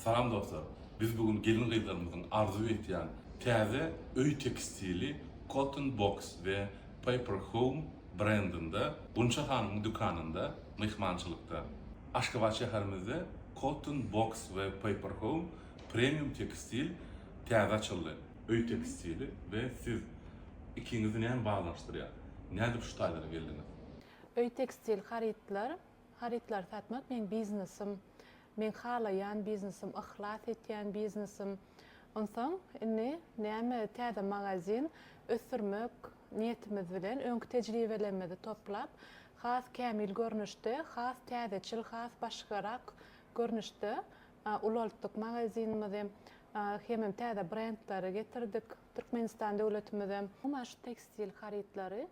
Salam dostlar! Biz bu gün gelin-gyzlarymyzyň arzuw etýän täze öý tekstili Cotton Box we Paper Home brendinde Gunça hanymyň dükanynda myhmançylykda. Aşgabat şäherimizde Cotton Box we Paper Home premium tekstil täze açyldy. Öý tekstili we siz. Ikiňizi näme baglanyşdyrýar? Nädip şu taýlara geldiňiz? Öý tekstil harytlar, harytlary satmak meň biznesim. Meň halaýan biznesim, yhlas etýän biznesim. Onsoň indi näme täze magazin ösdürmek niýetimiz bilen öňki tejribelerimizi toplap, has kämil görnüşde, has täzeçil, has başgarak görnüşde ulaltdyk magazinimizi. Hemem täze brendleri getirdik Türkmenistan döwletimizem. Gumaş, tekstil harytlary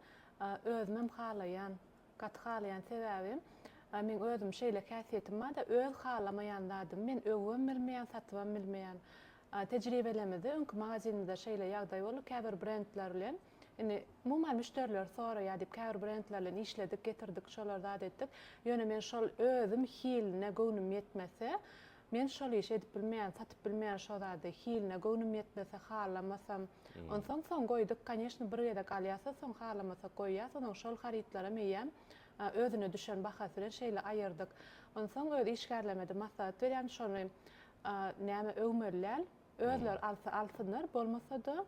özümem halaýan Gaty halaýan sebäbim meň özüm şeýle häsiýetim barda öz halamaýan zadymy men öwübem bilmeýän satybam bilmeýän tejribelemizde öňki magazinimizde şeýle ýagdaý boldy käbir brendler bilen indi umuman müşderiler soraýar diýip käbir brendler bilen işledik getirdik şolar zat etdik ýöne men şol özüm hiline göwnüm ýetmese Men şol işi edip bilmeýän, satyp bilmeýän şo zady, hiline göwnüm ýetmese, halamasam. Onsoň soň goýduk, koneşno bir gezek alýas-a, soň halamasak goýýas, onuň şol harytlaram eýýäm özüne düşen bahasy bilen şeýle aýyrdyk. Onsoň öz işgärlerime-de maslahat berýän, şony näme öwmeli däl, özleri alsa alsynlar, bolmasa-da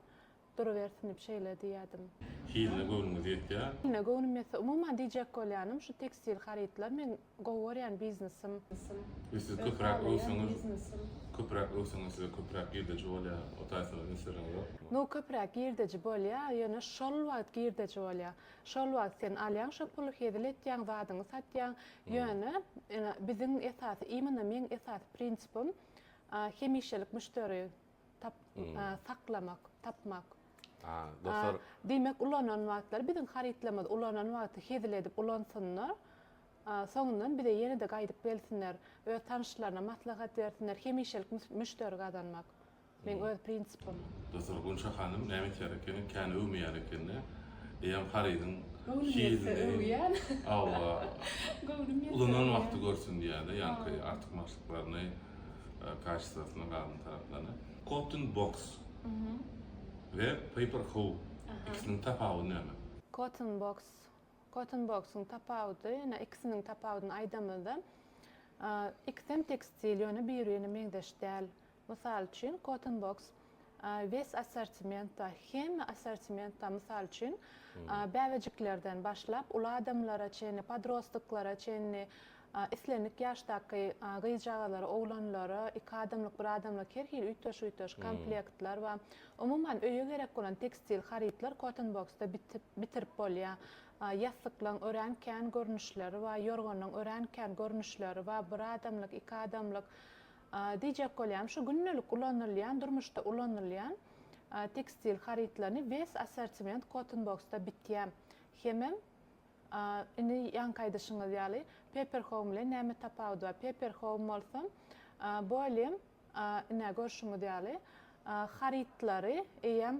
Durubersinip şeýle diýýädim. Hiline göwnüňiz ýetýä? Hiline göwnüm ýetse, umuman diýjek bolýanym şu tekstil harytlar meň gowy görýän biznesim. Ýa siz köpüräk öwseňiz, köpüräk öwseňiz size köpüräk girdeji bolýa, o taýsa üns bereňiz ýokmy? Nu köpüräk girdeji bolýa, ýöne şol wagt girdeji bolýa. Şol wagt sen alýaň şo puly hezil etýäň, zadyňy satýaň. Ýöne biziň esasy, imенно meň esasy prinsipim hemişelik müşderi tap saklamak, tapmak. A, dostlar. Diýmek, ulanan wagtlary biziň harytlarymyzy ulanan wagty hezil edip ulansynlar. Soňundan bize ýene-de gaýdyp gelsinler, öz tanyşlaryna maslahat bersinler, hemişelik müşderi gazanmak. Meň öz prinsipim. Dostlar, Gunça hanym näme etýär ekeni? Kän öwmeýär ekeni. Eýýäm harydyň hezilini öwýän. Hawa. Göwnüm ýetse öwýän. Ulanan wagty görsün diýýär-de, ýaňky artykmaçlyklaryny. kaşisasynyň galyň taraplaryny. Cotton box we paper hoe ikisiniň tapawudy näme? Cotton box Cotton box-yň tapawudy ýöne ikisiniň tapawudyny aýdamyzda ikisem tekstil ýöne biri birine meňzeş däl. Mysal üçin cotton box wes assortimentda, hemme assortimentda, mysal üçin, bäbejiklerden başlap, uly adamlara çenli, podrostklara çenli, islendik ýaşdaky gyzjagazlara, oglanlara, iki adamlyk, bir adamlyk, her hili üýtgeşik-üýtgeşik komplektler bar. Umuman, öýe gerek bolan tekstil harytlar Cottonbox-da bitip, bitirip bolýar. Ýassyklaň örän kän görnüşleri bar, ýorganyň örän kän görnüşleri bar, bir adamlyk, iki adamlyk, Diýjek bolýan, şu gündelik ulanylýan, durmuşda ulanylýan tekstil harytlaryny wes assortiment cotton boxda bitýär. Hemem indi ýaňky aýdyşyňyz ýaly paper home bilen näme tapawudy bar? Paper home bolsa bu elem ine görşüňiz ýaly harytlary eýýäm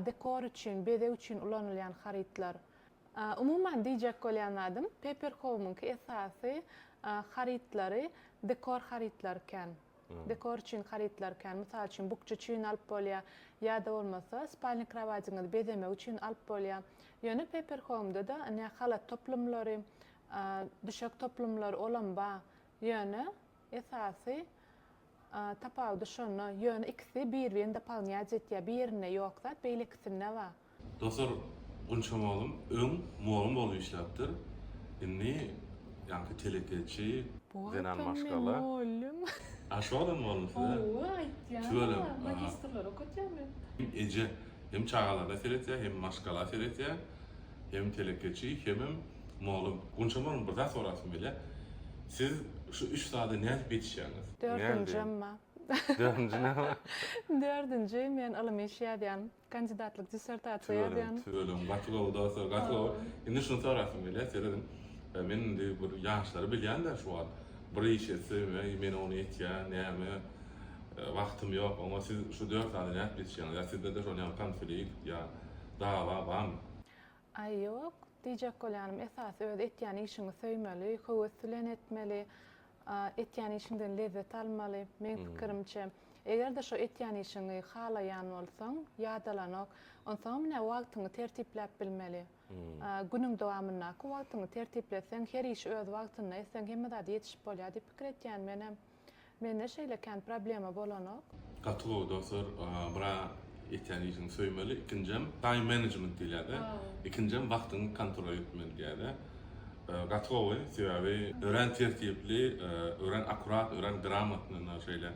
dekor üçin, bezeg üçin ulanylýan harytlar. Umuman diýjek bolýan zadym Paper Home-yňky esasy harytlary dekor harytlary kän. Dekor üçin harytlar kän. Mysal üçin bukja üçin alyp bolýar ýa-da bolmasa spalni krowadyňyzy bezemek üçin alyp bolýar. Ýöne Paper Home-da-da ine halat toplumlary, düşek toplumlary olam bar. Ýöne esasy Tapawudy şonda, ýöne ikisi bir-birini dopolnýac etýär, birinde ýok zat, beýlekisinde bar. Dostlar Gunçam oglum öň mugallym bolup işläpdir indi ýaňky telekeçi. Bu wagtam men mollym. A şodam mollum size. Howwa aýtýana magistrleri okatýan men. Hem eje hem çagalaryna seretýä hem maşgala seretýä hem telekeçi hemem Mollum, Gunçaman bir zat sorasym gelýär. Siz şu üç zada nädip ýetişýäňiz? Dördünji emma. Dördünji näme? Dördünji men ylym işi ýazýan, kandidatlyk dissertasiýa ýazýan. Tüweleme, gaty gowy dostlar, gaty gowy. Indi şuny sorasym gelýär, serediň. Men indi bir ýaşlary bilýän-dä şu wagt. Bir iş etsem, eý, men ony etýän, näme, wagtym ýok. Oňa siz şu dört zada nädip ýetişýäňiz? Ýa sizde-de şol ýaňky konflikt ýa dawa barmy? Aý ýok, diýjek bolýanym esasy öz etýän işiňi söýmeli, höwes bilen etmeli, etýän işiňden lezzet almaly, meň pikirimçe. Eger-de şo etýän işiňi halaýan bolsaň, ýadalanok, onsoňam ine wagtyňy tertipläp bilmeli. Günüň dowamyndaky wagtyňy tertipleseň, her işi öz wagtynda etseň hemme zat ýetişip bolýar diýip pikir etýän menem. Mende şeýle kän problema bolanok. Gaty gowy dostlar bra etýän işiňi söýmeli ikinjem time management diýilýärde ikinjem wagtyňy kontrol etmeli diýýärde gaty gowy sebäbi örän tertipli örän akurat örän gramatnyna şeýle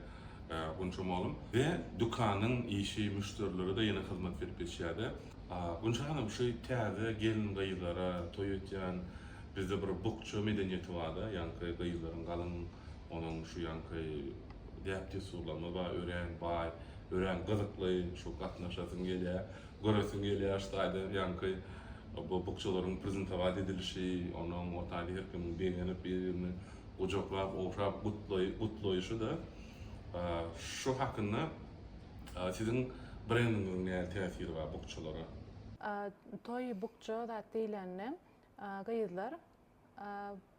gunçam oglum we dükanyň işi müşderilere-de ýene hyzmat berip geçýärde Gunça hanym şu täze gelin gyzlara toý etýän Bizde bir bukja medeniýeti bar-da, ýaňky gyzlaryň galyň onuň şu ýaňky däp-dessurlaryna bar, örän baý, örän gyzykly, şu gatnaşasyň gelýär, göresiň gelýär şu taýdan ýaňky bu bukjalaryň prezentowat edilişi, onuň o taýda her kimiň begenip bir-birini gujaklap, ogşap gutlaýşy-da. Şu hakynda siziň brendiňiziň nähili täsiri bar bukjalara? Toý bukja zat diýlende, Gyzlar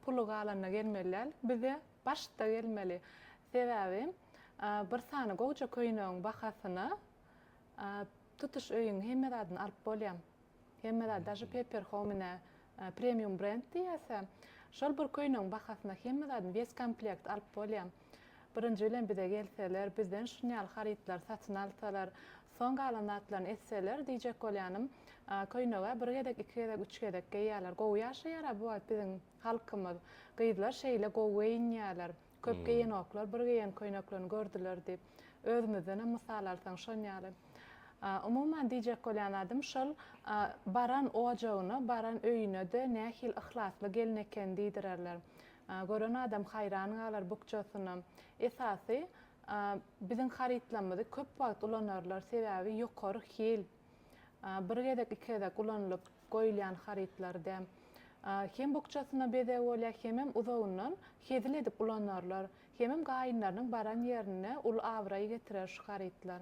puly galanda gelmeli däl bize başda gelmeli sebäbi bir sany gowja köýnegiň bahasyna tutuş öýüň hemme zadyny alyp bolýa hemme zat daže pepper homine premium brend diýýäse şol bir köýnegiň bahasyna hemme zadyny wes komplekt alyp bolýa. Birinji bilen bize gelseler, bizden şunýaly harytlary satyn alsalar, soň galan zatlaryny etseler, diýjek bolýanym, köýneg-ä bir gezek, iki gezek, üç gezek geýýärler. Gowy ýaşaýar-a bu wagt biziň halkymyz. Gyzlar şeýle gowy geýinýärler. Köp geýenoklar, bir geýen köýneklerini gördüler diýip. Özümizdenem mysal alsaň şonýaly. Umuman diýjek bolýan zadym şol, baran ojagyna, baran öýüne-de nähili yhlasly gelin eken diýdirerler. Gören adam haýran galar bukjasynam. Esasy biziň harytlamyzy köp wagt ulanarlar sebäbi ýokary hil. Bir gezek iki gezek ulanylyp goýulýan harytlar däl. Hem bukjasyna bezeg bolýar hemem uzagyndan hezil edip ulanarlar. Hemem gaýynlarynyň baran ýerinde uly abraý getirer şu harytlar.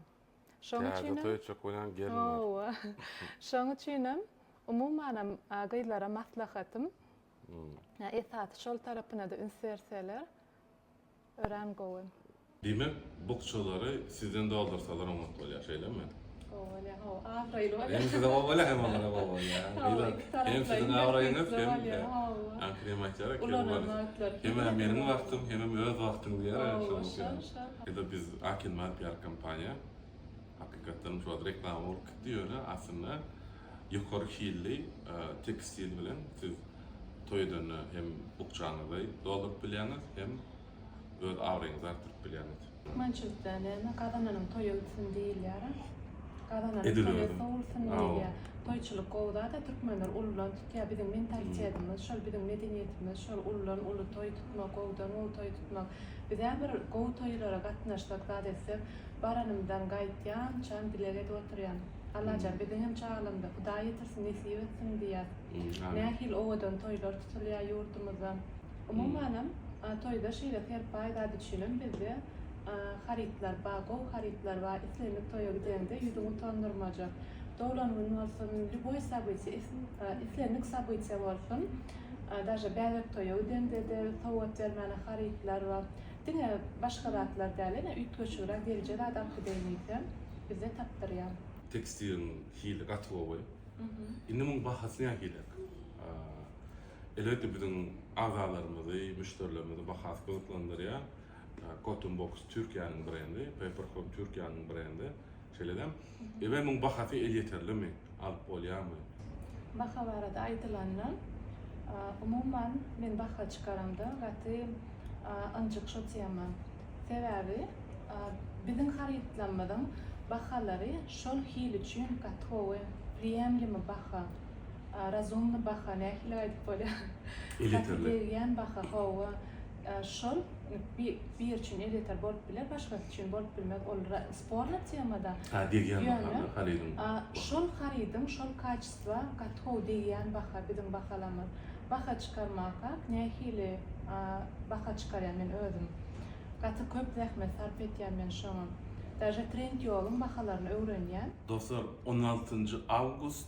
Şoň üçinem. Täze toý etjek bolýan gelin bar. Hawa. Şoň üçinem umumanam gyzlara maslahatym. Ýa esasy şol tarapynada üns berseler örän gowy. Diýmek bukjalary sizden doldursalar oňat bolýar şeýlemi? Gowy bolýar hawa abraýly bolýar. Hem size gowy bolýar hem olara gowy bolýar. Hawa iki taraplaýyn hem siziň abraýyňyz hem hawa. Kim aýtýar eken Ulanylma zatlar. Hem meniň wagtym hemem öz wagtyň diýýär şol. Hawa şol şol. Biz akin maddiyar kompaniýa. Hakykatdanam şol reklama bolup gitdi ýöne aslynda ýokary hilli tekstil bilen siz toý edende hem bukjaňyzy dolduryp bilýäňiz hem öz abraýyňyzy artdyryp bilýäňiz. Türkmençilikde näme, gazananyň toýa gitsin diýilýär-ä. Gazananyň toýa sowulsyn diýilýär. Toýçulyk gowy zat-a, türkmenler uludan tutýar. Biziň mentalitetimiz şol, biziň medeniýetimiz şol, uludan uly toý tutmak, gowudan gowy toý tutmak. Biz-ä bir gowy toýlara gatnaşsak, zat etsek, Baranymdan gaýtýançam dileg edip oturýan. Allajan biziňem çagalygymyza Hudaý ýetirsin nesip etsin diýýän. Nähili owadan toýlar tutulýar ýurdumyzda. Umumanam toýda şeýle serpaý zat üçinem bizde harytlar bar, gowy harytlar bar. Islendik toýa gideňde ýüzüňi utandyrmajak. Doglan gün bolsun, lýuboý sabytiýa, islendik sabytiýa bolsun, daže bäbek toýa gideňde-de sowgat bermäne harytlar bar. Diňe başga zatlar däl, ýene üýtgeşigräk gelje zat orhideýimiz hem bize tapdyrýar. Tekstiliň hili gaty gowy. Indi muň bahasy nähilek? Elbetde biziň agalarymyzy, müşderilerimizi bahasy gyzyklandyrýar. Cotton Box Türkiýäniň brendi, Paper Home Türkiýäniň brendi. Şeýle-de, IBM-iň bahasy elýeterlimi, alyp bolýarmy? Baha barada aýdylanda, umuman, men baha çykaramda gaty ynjyk şo tema. Sebäbi biziň harytlarymyzyň bahalary şol hil üçin gatowy, priýemlimi baha, razumny baha, nähili aýdyp bolýar? Elýeterli. Gaty degýän baha, hawa. Şol biri üçin elýeter bolup biler, başgasy üçin bolup bilmez. Ol sporny temada. Hä, degýän baha harydyň. Şol harydyň şol kaçestwa gaty gowy degýän baha biziň bahalarymyz. Baha çykarmakak nähili baha çykarýan men özüm. Gaty köp zähmet sarp etýän men şoňa. Daže Trendýolyň bahalaryny öwrenýän. Dostlar, on altynjy awgust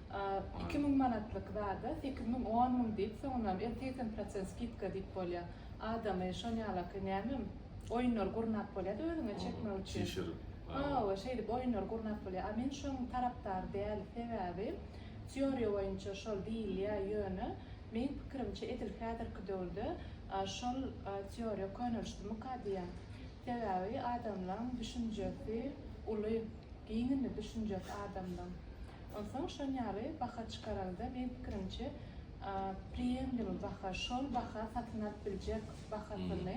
Iki müň manatlyk zada sekiz müň, on müň diýip, soňundanam elli, segsen prosent skidka diýip bolýar. Adamy şonýalaki nämem, oýunlar gurnap bolýar-da özüňe çekmek üçin. Çişirip. Hawa, şeýdip oýunlar gurnap bolýar. A men şoň tarapdar däl, sebäbi teoriýa boýunça şol diýilýär, ýöne meň pikirimçe edil häzirki döwürde şol teoriýa könelişdimika diýýän. Sebäbi adamlaň düşünjesi uly, giň indi düşünjesi adamlaň. Onsoň şol ýaly baha çykaranda meň pikirimçe priýemlimi baha, şol baha satyn alyp biljek bahasyny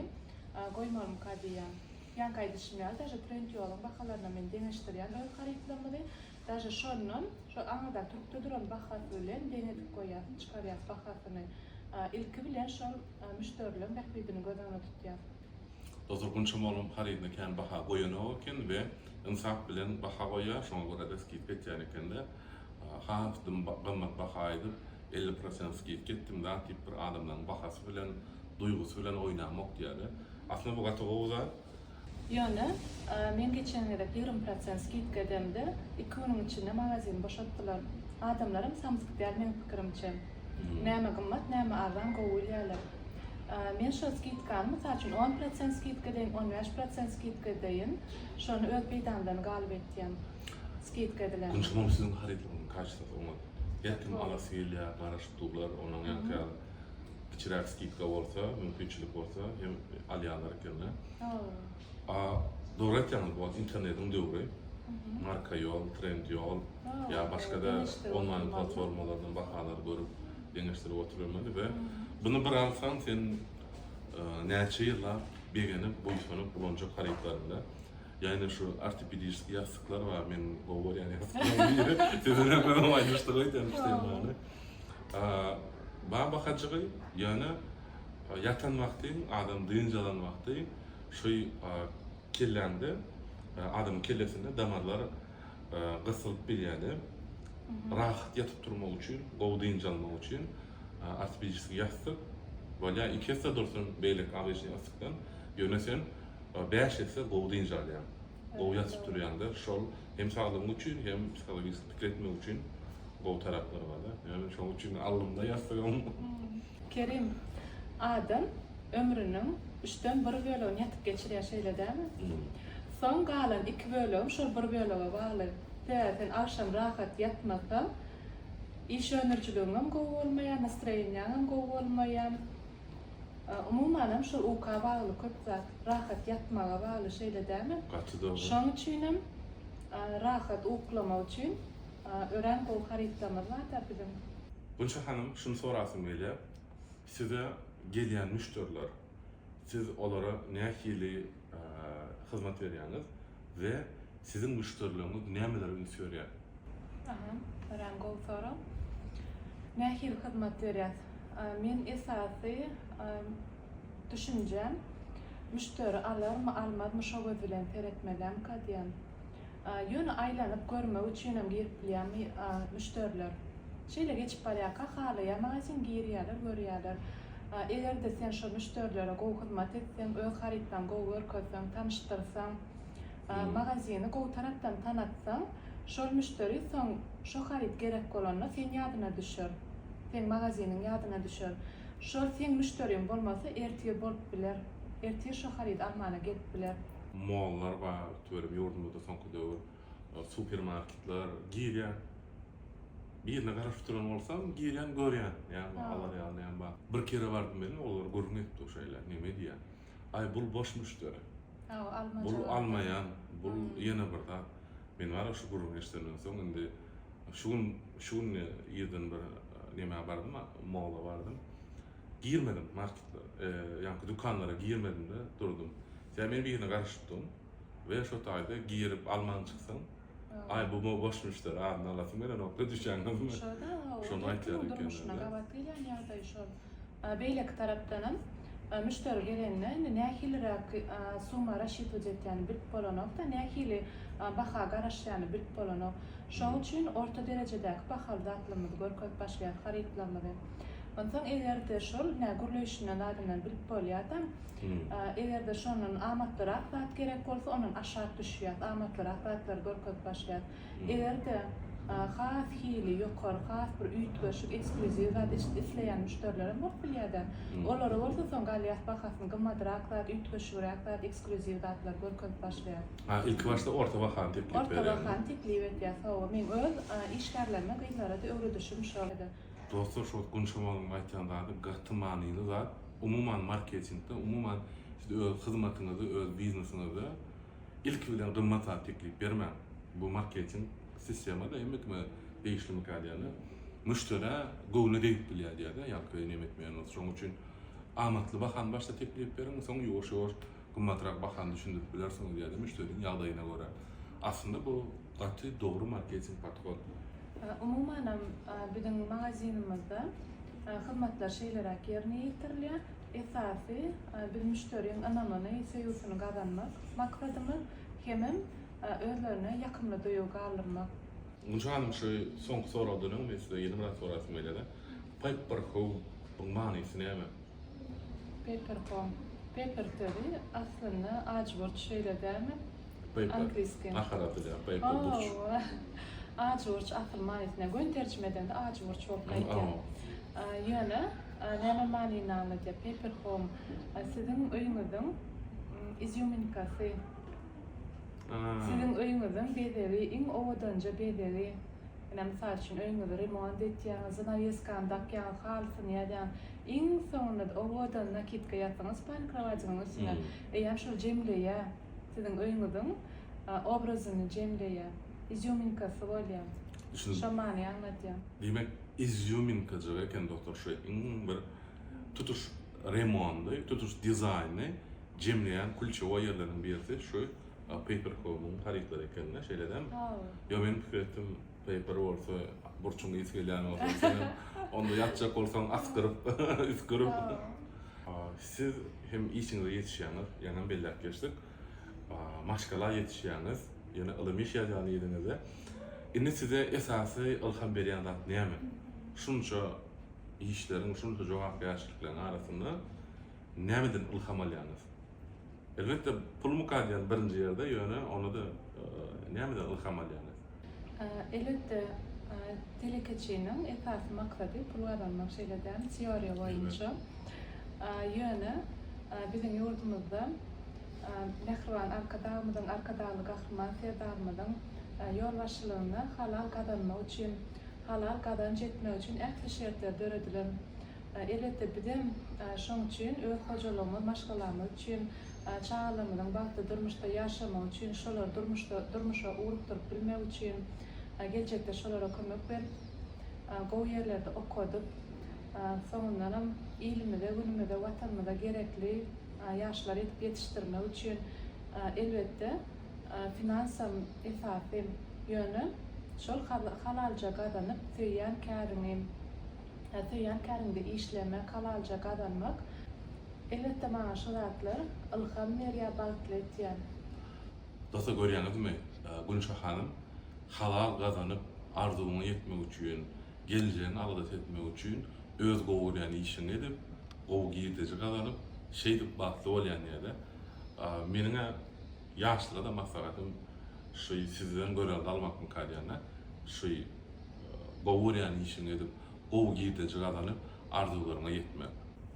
goýmalymyka diýýän. Ýaňky aýdyşym ýaly daže trend ýoluň bahalaryna men deňeşdirýän öz harytlarymyzy, daže şondan şol aňyrdan turupda duran bahasy bilen deň edip goýýas, çykarýas bahasyny. Ilki bilen şol müşderileň bähbidini göz öňünde tutýas. Dostlar gunçam olam harydyna kän baha goýanok eken we ynsap bilen baha goýýar şoňa görä de skidka etýän ekenler. Has dym gymmat baha aýdyp elli prosent skidka etdim zat diýip bir adamlaryň bahasy bilen duýgusy bilen oýnamok diýýärler. Aslynda bu gaty gowy zat. Ýöne men geçen gezek ýigrimi prosent skidka edemde iki günüň içinde magazini boşatdylar. Adamlaram samsyk däl meň pikirimçe. Näme gymmat, näme arzan gowy bilýärler. Men şol skidkany, mysal üçin, on prosent skidka edeýin, on bäş prosent skidka edeýin, şony öz peýdamdan galyp etýän skidka edilenleri. Güneş hanym siziň harydyňyzyň kaçtosy oňat. Her kim alasy gelýär, garaşyp durlar, onuň ýaňky ýaly kiçiräk skidka bolsa, mümkinçilik bolsa hem alýarlar ekende. A dogry aýtýaňyz bu internetiň döwri. Marka ýol, trend ýol ýa başga da onlaýn platformalardan bahalary görüp deňeşdirip oturylmaly we bunu bir alsaň sen näçe ýyllap begenip buýsanyp ulanjak harytlaryňda ýa-ni şu ortopediskiý ýassyklar bar men gowy görýän ýassyklar Baba hajygy ýa-ni ýatan wagty adam dynç alan wagty Şu kelläňde adamyň kellesinde damarlar gysylyp bilýärdi. Rahat ýatyp turmak üçin, gowy dynç almak üçin ortopediski ýassyk bolýar. Iki esse dursun beýleki obýçnyý ýassykdan. Ýöne sen bäş esse gowy dynç alýaň. Gowy ýatyp turýaňda şol hem saglygyň üçin hem psihologik pikir etmek üçin gowy taraplary barda. Ýöne şoň üçin alnymda ýassygym. Kerim adam ömrüniň üçden bir bölegini ýatyp geçirýär şeýle dälmi? Soň galan iki bölegi şol bir bölege bagly. Tä sen agşam rahat ýatmasaň iş öndürijiligiňem gowy bolmaýar, nastroýenýaňam gowy bolmaýar. Umumanam şo uka bagly köp zat. Rahat ýatmaga bagly şeýle dämi? Gaty dogry. Şoň üçinem rahat uklamak üçin örän gowy harytlamyz bar da biziň. Gunça hanym şuny sorasym gelýär. Size gelýän müşderiler siz olara nähili hyzmat berýäňiz? we siziň müşderileriňiz nämelere üns berýär? Aha, örän gowy sorag. Nähili hyzmat berýäs? Meniň esasy düşünjem, müşderi alarmy, almazmy şo göz bilen seretmelem-ka diýen. Ýöne aýlanyp görmek üçinem girip bilýän müşderiler. Şeýle geçip barýarka halaýan magazin girýärler, görýärler. Eger-de sen şo müşderilere gowy hyzmat etseň, öz harytlaryňy gowy görkezseň, tanyşdyrsaň, magazini gowy tarapdan tanatsaň, şol müşderi soň şo haryt gerek bolanda seň ýadyna düşer, seň magaziniň ýadyna düşer. Şol seň müşderiň bolmasa, ertir bolup biler, ertir şo harydy almana gelip biler. Mollary bar, tüweleme ýurdumyzda soňky döwür supermarketler girýän birine garaşyp duran bolsam girýän görýän ýa bir alar ýaly bar bir kere bardym welin olar gürrüň etdi şeýle neme diýýän aý bul boş müşderi bul almaýan bul ýene bir zat men wara şu gürrüňi eşidenden soň indi şu gün şu gün irden bir nemä bardym molla bardym girmedim marketlere ýa dükanlara girmedimde durdum sebäbi men birine garaşypdym. we şo taýda girip alman çyksaň, aý bu boş müşderi adyny alasyň gelenokda düşýäňizmi? Şo-da, şony aýtýar ekeniň-dä. Gabat gelýän ýagdaý şol. Beýleki tarapdanam, müşderi gelende indi nähiliräk summa rassçitowat etýäni bilip bolanok-da, nähili baha garaşýany bilip bolanok. Şoň üçin orta derejedäki bahaly zatlymyzy görkezip başlaýar harytlarymyzy. Onsoň eger-de şol, nä gürleýşinden zadyndan bilip bolýarda, Eger-de şondan amatlyrak zat gerek bolsa, ondan aşak düşýäs, amatlyrak zatlary görkezip başlaýas. Eger-de has hili ýokary, has bir üýtgeşik, ekskluziw zat isleýän müşderilerem bolup bilýär-de. Olara bolsa soň galýas, bahasyny gymmatrak zat, üýtgeşigräk zat, ekskluziw zatlary görkezip başlaýas. A, ilki başda orta bahany teklip berýäňiz. Orta bahany teklip etýäs, hawa. Meň öz işgärlerime, gyzlara-da öwredişim şol. Dostlar şo gün şamalyň aýtýan zady gaty manyly zat umuman marketingde umuman siz öz hyzmatyňyzy öz biznesiňizde ilki bilen gymmat zat teklip bermäň bu marketing sistema da hemme kime degişlimikä diýende müşderä göwne degip bilýär diýýärda ýalka nemetmeýän bolsa şoň üçin amatly bahany başda teklip beriň soň ýuwaş ýuwaş gymmatrak bahany düşündirip bilersiňiz ýa-da müşderiniň ýagdaýyna görä. Aslynda bu gaty dogry marketing podhod. Umumanam biziň magazinimizde hyzmatlar şeýleräk ýerine ýetirilýär. Esasy biz müşderiň ynamyny, söýgüsini gazanmak maksadymyz, hemem özlerine ýakymly duýgy galdyrmak. Gunç hanym şu soňky soragdan öň men size ýene biraz sorasym gelýär-de. Paper Home-yň manysy näme? Papercom, paper sözi aslynda ajburç şeýle dälmi? Paper, ahal atylýan paper burç. Ajburç asyl manysyna göni terjime edende ajburç bolup gaýdýar. Ýöne näme manyny aňladýar? Papercom siziň öýüňiziň izýuminkasy, siziň öýüňiziň bezegi, iň owadanja bezegi. Ine, mysal üçin, öýüňizi remont etýäňiz, zanaweskany dakýaňyz, halysyny ýazýaňyz. Iň soňunda owadan nakitka ýasyňyz spalni krowadyňyň üstüne. Eýýäm şol jemleýä siziň öýüňiziň obrazyny jemleýä. Izýuminkasy bolýa. Düşündim. Şo many aňladýa. Diýmek izýuminkajyk eken dostlar şu iň bir tutuş remondy, tutuş dizaýny jemleýän kulçewoý ýerleriniň birisi şu paper home-yň harytlary ekende şeýle dämi? Hawa. Ýok men pikir etdim. Paper bolsa burçuň ysy gelýän bolsa senem onda ýatjak bolsaň asgyryp üsgürip. Siz hem işiňize ýetişýäňiz ýaňam belläp geçdik. Maşgala ýetişýäňiz ýene ylym iş ýazýan yzyňyzda. Indi size esasy ylham berýän zat näme? Şunça işleriň şunça jogapkärçilikleriň arasynda. Nämeden ylham alýaňyz? Elbetde, pul mukaddiam birinji ýerde, ýöne onda-da nämeden ylham alýaňyz? Elbetde, telekeçiniň esasy maksady pul gazanmak, şeýle däl, teoriýa boýunça. Ýöne biziň ýurdumyzda mähriban Arkadagymyzyň, Arkadagly Gahryman Serdarymyzyň ýolbaşçylygynda halal gazanmak üçin, halal gazanç etmek üçin ähli şertler döredilen. Elbetde, bizem şonuň üçin öz hojalygymyz, maşgalamyz üçin, çagalarymyzyň bagtly durmuşda ýaşamagy üçin, şolary durmuşda durmuşa ugrukdyryp bilmek üçin, geljekde şolara kömek berip, gowy ýerlerde okadyp, soňundanam ilimize, günümize, Watanymyza gerekli ýaşlar edip ýetişdirmek üçin, elbetde, finansam esasy. Ýöne şol halalja gazanyp, söýýän käriňi. söýýän käriňde işlemek, halalja gazanmak. Elbetde maňa şu zatlar ylham berýär, bagtly etýär. Dossy görýäňizmi Günşa hanym halal gazanyp arzuwyňa ýetmek üçin geljegiňi alada etmek üçin öz gowy görýän işiňi edip gowy girdeji gazanyp şeýdip bagtly bolýan ýa-da meniňä ýaşlara-da maslahatym şuý sizden görelde almakmyka diýende şuý Gowy görýän işiňi edip, gowy girdeji gazanyp, arzuwlaryňa ýetmek.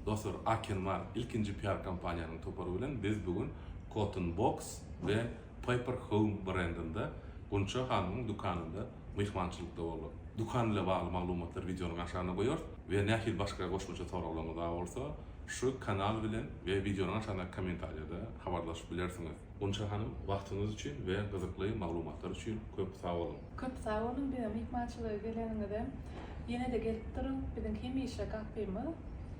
Dostlar, Akenmar, ilkinji PR kompaniýanyň topary bilen biz bu gün Cotton Box we Paper Home brendinde Gunça hanymyň dükanynda myhmançylykda bolduk. Dükan ile bagly maglumatlary wideonyň aşagyna goýarys we nähili başga goşmaça soraglaryňyz bar bolsa, şu kanal bilen we wideonyň aşagyndaky kommentariýada habarlaşyp bilersiňiz. Gunça hanym wagtyňyz üçin we gyzykly maglumatlar üçin köp sag boluň. Köp sag boluň bize myhmançylyga geleniňize. Ýene-de gelip duruň, biziň hemişe gapymyz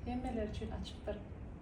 hemmeler üçin açykdyr.